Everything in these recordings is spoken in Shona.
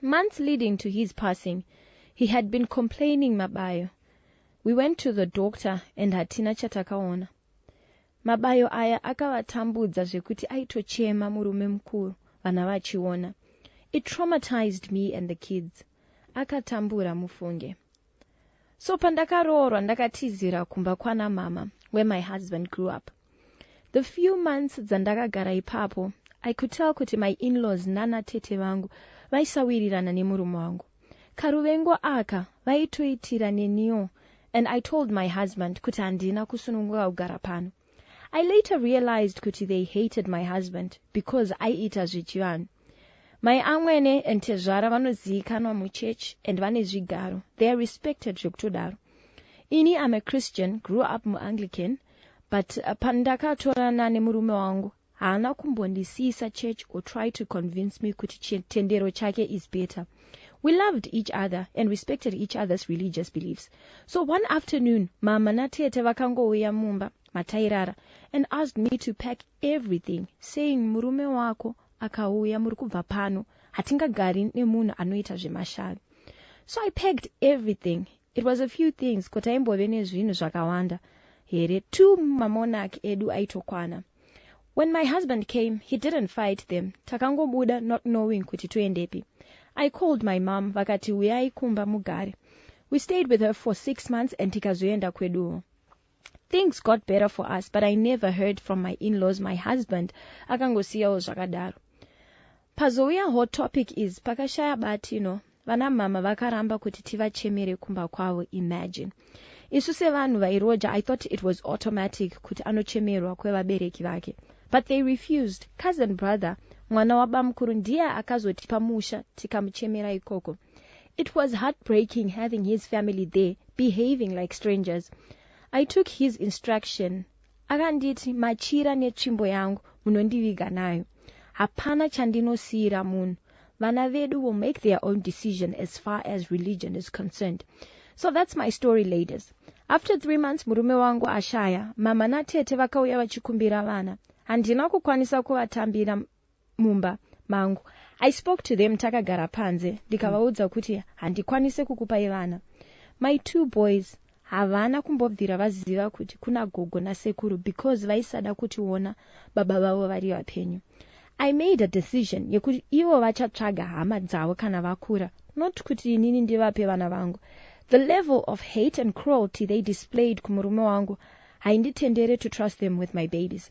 Months leading to his passing he had been complaining mabayo. We went to the doctor and hatina chatakaona. Mabayo aya akavatambudza zvekuti aitochema murume mukuru vana vachiona. It traumatized me and the kids. Akatambura mufunge. So pandakaroorwa ndakatizira kumba kwana mama where my husband grew up. The few months dzandakagara ipapo, I could tell kuti my in-laws nana tete vangu vaisawirirana nemurume wangu. Karuvengo aka vaitoitira neniwo and I told my husband kuti handina kusununguka kugara pano. I later realized kuti they hated my husband because aiita zvechivanhu. Mai amwene and tezvara vanoziikanwa muchurch and vane zvigaro, they are respected zvekutodaro. Ini I'm a Christian, grew up muAnglican, but uh, pandakatorana nemurume wangu haana kumbondisiisa church or try to convince me kuti chitendero chake is better we loved each other and respected each other's religious beliefs so one afternoon mama natete vakangouya mumba matairara and asked me to pack everything saying murume wako akauya muri kubva pano hatingagari nemunhu anoita zvemashavi so i packed everything It was a few things ko taimbove nezvinhu zvakawanda here two mamonarch edu aitokwana. When my husband came he didn't fight them takangobuda not knowing kuti toendepi. I called my mom vakati huyai kumba mugare. We stayed with her for six months and tikazoenda kweduwo. Things got better for us but I never heard from my in-laws my husband akangosiyawo zvakadaro. Pazouya hot topic is pakashaya bati no vana mama vakaramba kuti tivachemere kumba kwavo imagine. Isu sevanhu vairoja I thought it was automatic kuti anochemerwa kwevabereki vake but they refused. Cousin brother mwana wabamukuru ndiye akazotipa musha tikamuchemera ikoko. It was heartbreaking having his family there behaving like strangers. I took his instruction akanditi machira netsvimbo yangu munondiviga nayo. Hapana chandinosiira munhu. Vana vedu will make their own decision as far as religion is concerned. So that's my story ladies. After three months murume wangu ashaya, mama natete vakauya vachikumbira vana. Handina kukwanisa kuvatambira mumba mangu i spoke to them takagara panze ndikavaudza mm. kuti handikwanise kukupai vana my two boys havana kumbobvira vaziva kuti kuna gogo nasekuru because vaisada kutiona baba vavo vari vapenyu i made a decision yekuti ivo vachatsvaga hama dzavo kana vakura not kuti inini ndivape vana vangu the level of hate and cruelty they displayed kumurume wangu hainditendere to trust them with my babies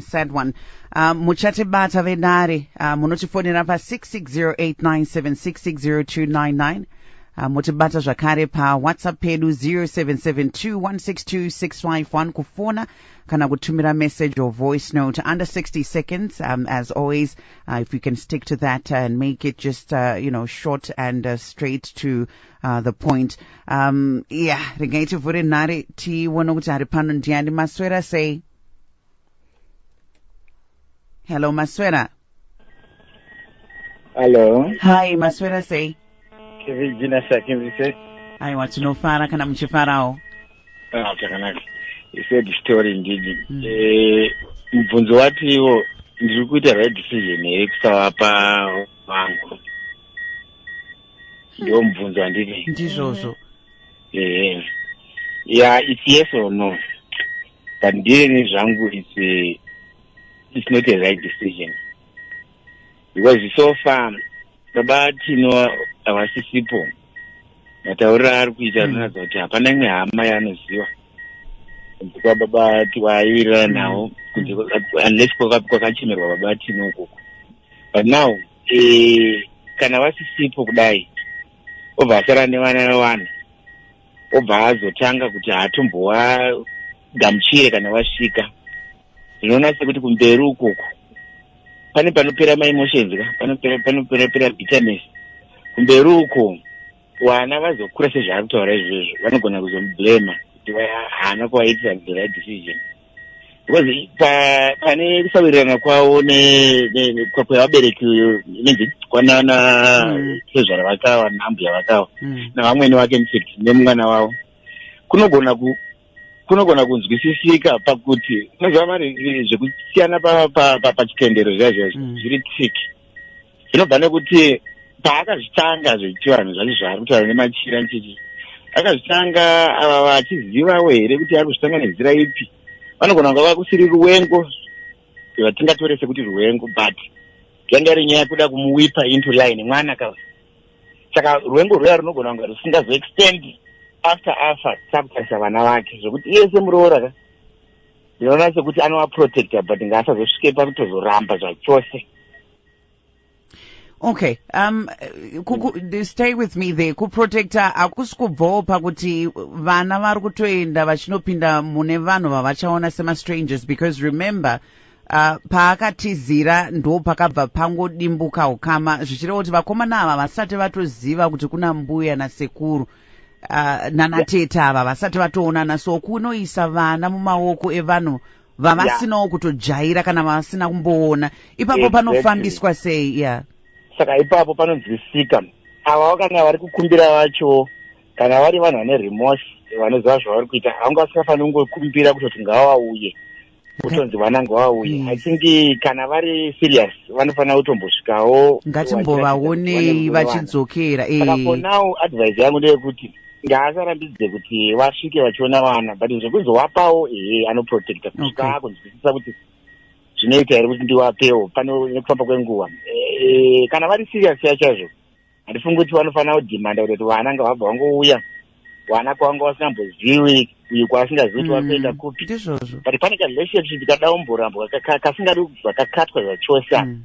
sad one uh, muchatibata vedare uh, munotifonera pa 660897660299 uh, motibata zvakare pawhatsapp pedu 0772162651 kufona kana kutumira message or voice note under 60 seconds um, as always uh, if you can stick to that and make it just uh, you know short and uh, straight to uh, the point um, yeah regai tivhure nhare tione kuti ari pano ndiani maswera sei hello maswera hello hi maswera sei kevijina sakimvise aiwa tinofara kana muchifarawo ah, chakanaka isedi story ndidi mm. eh, mubvunzo watiwo ndiri kuita right decision here kusavapa vangu hmm. ndo mubvunzo wandiri ndizvozvo ehe yeah it's yes or no but ndiyeni zvangu its its not a right decision because so far baba tino havasisipo matauriro aari kuita hmm. anoratidza kuti hapana imwe hama yaanoziva kunze kwababa tiwaiwirirana hmm. nawo kunze unless kwakachemerwa baba tino ukoko but now eh, kana vasisipo kudai obva asara nevana vevanhu obva azotanga kuti haatomboagamuchire kana vasvika zvinoona sekuti kumberi ukoko pane panopera maimotions ka panoperapera bitterness kumberi uko vana vazokura sezvaari kutaura izvozvo vanogona kuzomublema kuti haana kuvaitira the right decision because pane kusawirirana kwavo kwevabereki inenzi kwanana mm. tezvara vakava naambuya vakava mm. navamwene vake infact nemwana wavo kunogona kunogona kunzwisisika pakuti unoziva mari zvekusiyana pachitendero zviya zviya mm. zviri tsiki zvinobva nekuti paakazvitanga zvechivanhu zvacho zvaari kutaura nemachira nchichi akazvitanga ava vachizivawo here kuti ari kuzvitanga nenzira ipi vanogona kunga vakusiri ruwengo vatingatore sekuti ruwengo but yanga iri nyaya kuda kumuwipa into line mwana ka saka ruwengo rwuya runogona kunga rusingazoextend after afa sakutarisa vana vake zvekuti iye semuroora ka ndinoona sekuti anovaprotecta but ngaasazosvike pakutozoramba zvachose okay um kuku, stay with me there kuprotecta hakusi kubvawo pakuti vana vari kutoenda vachinopinda mune vanhu vavachaona semastrangers because remember uh, paakatizira ndo pakabva pangodimbuka ukama zvichireva kuti vakomana ava vasati vatoziva kuti kuna mbuya nasekuru uh, nanatete ava vasati vatoonana so kunoisa vana mumaoko evanhu vavasinawo yeah. kutojaira kana vavasina kumboona ipapo exactly. panofambiswa sei yeah. saka ipapo panonzwisika ava vakanga vari kukumbira vacho kana vari vanhu vane remorse vanoziva zvavari kuita vanga vasingafaniri kungokumbira kutoti ngavauye kutonzi vana ngavauye mm. i think kana vari serious vanofanira kutombosvikawo ngatimbovaonei vachidzokera saka eh. for now advice yangu ndeyekuti ngaasarambidze kuti vasvike vachiona vana but zvekuzovapawo ehe anoprotecta kusvika okay. akunzwisisa kuti zvinoita here kuti ndiwapewo pane nekufamba kwenguva e, kana vari serious ya chaizvo handifungi kuti vanofanira kudhimanda kuti vana ngavabva vangouya vana kwavanga vasingambozivi uyu kwaasingazivi kuti vakuenda mm, kupi but pane karelationship kadaumborambwa kasingadi kubva kakatwa zvachose mm.